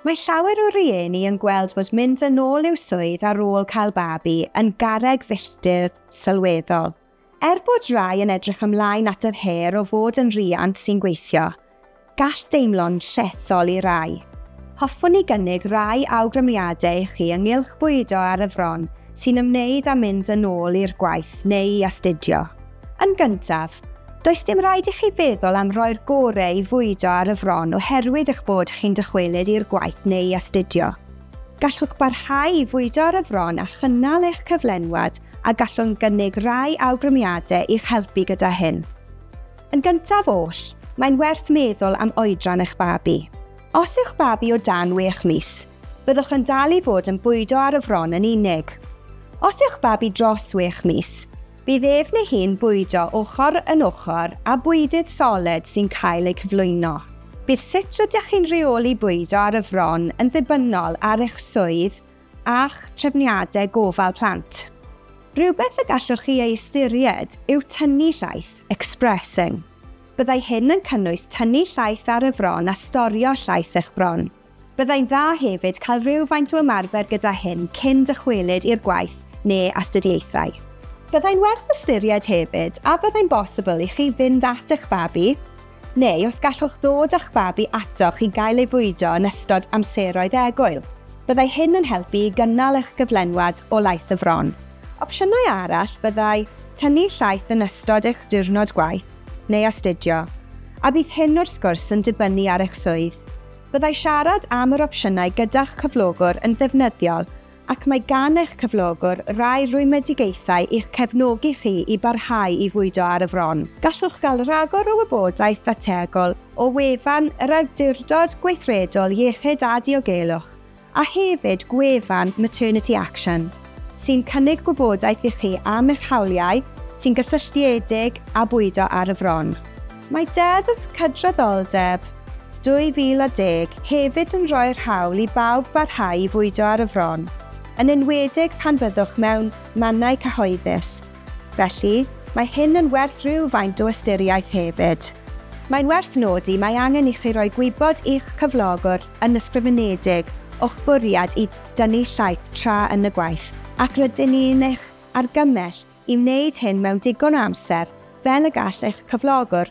Mae llawer o rieni yn gweld bod mynd yn ôl i'w swydd ar ôl cael babi yn garreg filltir sylweddol. Er bod rai yn edrych ymlaen at yr her o fod yn riant sy'n gweithio, gall deimlo'n llethol i rai. Hoffwn i gynnig rai awgrymiadau i chi ynghylch bwydo ar y fron sy'n ymwneud â mynd yn ôl i'r gwaith neu i astudio. Yn gyntaf, does dim rhaid i chi feddwl am roi'r gore i fwydo ar y fron oherwydd eich bod chi'n dychwelyd i'r gwaith neu i astudio. Gallwch barhau i fwydo ar y fron a chynnal eich cyflenwad a gallwn gynnig rai awgrymiadau i'ch helpu gyda hyn. Yn gyntaf oll, mae'n werth meddwl am oedran eich babi. Os yw'ch babi o dan wech mis, byddwch yn dal i fod yn bwydo ar y fron yn unig. Os yw'ch babi dros wech mis, Bydd ef neu hi'n bwydo ochr yn ochr â bwydydd soled sy'n cael eu cyflwyno. Bydd sut rydych chi'n rheoli bwydo ar y fron yn ddibynnol ar eich swydd a'ch trefniadau gofal plant. Rhywbeth y gallwch chi ei ystyried yw tynnu llaeth, expressing. Byddai hyn yn cynnwys tynnu llaeth ar y fron a storio llaeth eich bron. Byddai'n dda hefyd cael rhywfaint o ymarfer gyda hyn cyn dychwelyd i'r gwaith neu astudiaethau. Byddai'n werth ystyried hefyd a fyddai'n bosibl i chi fynd at eich babi, neu os gallwch ddod â'ch babi atoch i gael ei fwydo yn ystod amseroedd egwyl. Byddai hyn yn helpu i gynnal eich gyflenwad o laeth y fron. Opsiynau arall fyddai tynnu llaeth yn ystod eich diwrnod gwaith neu astudio, a bydd hyn wrth gwrs yn dibynnu ar eich swydd. Byddai siarad am yr opsiynau gyda'ch cyflogwr yn ddefnyddiol ac mae gan eich cyflogwr rai rwymedigaethau i'ch cefnogi chi i barhau i fwydo ar y fron. Gallwch gael rhagor o wybodaeth ddateagol o wefan yr Awdurdod Gweithredol Iechyd a Diogelwch a hefyd gwefan Maternity Action, sy'n cynnig gwybodaeth i chi am eich hawliau sy'n gysylltiedig â bwydo ar y fron. Mae Deddf Cydraddoldeb 2010 hefyd yn rhoi'r hawl i bawb barhau i fwydo ar y fron, yn enwedig pan fyddwch mewn mannau cyhoeddus. Felly, mae hyn yn werth rhywfaint o ystyriaeth hefyd. Mae'n werth nodi mae angen i chi roi gwybod i'ch cyflogwr yn ysgrifenedig o'ch bwriad i dynnu llaeth tra yn y gwaith, ac rydyn ni yn eich argymell i wneud hyn mewn digon o amser fel y gall eich cyflogwr